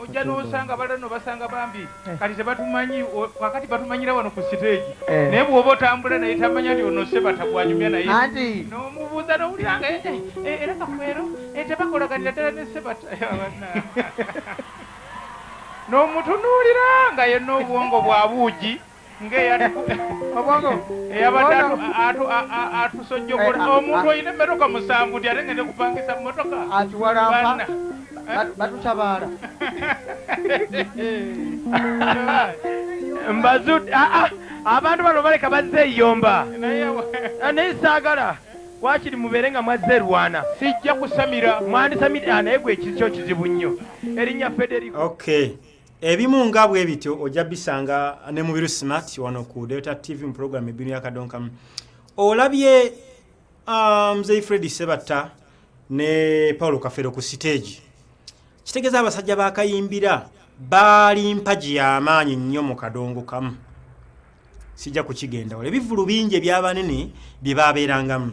ojja nosanga balala nobasanga bambi eh. kati tebatumanyi kakati batumanyira wano ku siteegi eh. naye bwoba otambula naye tamanya nti ono seba tagwanyumya naye nomubuuza nowuliranga eh, era kafeero tebakolaganira ddala ne seba nomutunuulira nga yenna obwongo bwa buugi eyabadde atusojjogora eh, ah, omuntu ah. olina emmotoka musanvu nti ate ngende kupangisa mmotoka atuwalampa eh? batutabaala mbazud ah, abantu bano baleka bazze eyomba naye saagala wakiri mubeere nga mwazze erwana sijja kusamira mwandisamira naye gwe ekikyo kizibu nnyo erinnya federico okay. ebimu nga bwe bityo ojja bisanga ne mubiru smart wano ku delta tv mu program ebinu yakadonkamu olabye ah, mzei um, fredi sebatta ne paulo kafero ku siteegi kitegeeza abasajja bakayimbira baali mpagi yamaanyi nnyo mu kadongo kamu sijja kukigendawo ebivulu bingi ebyabanene bye babeerangamu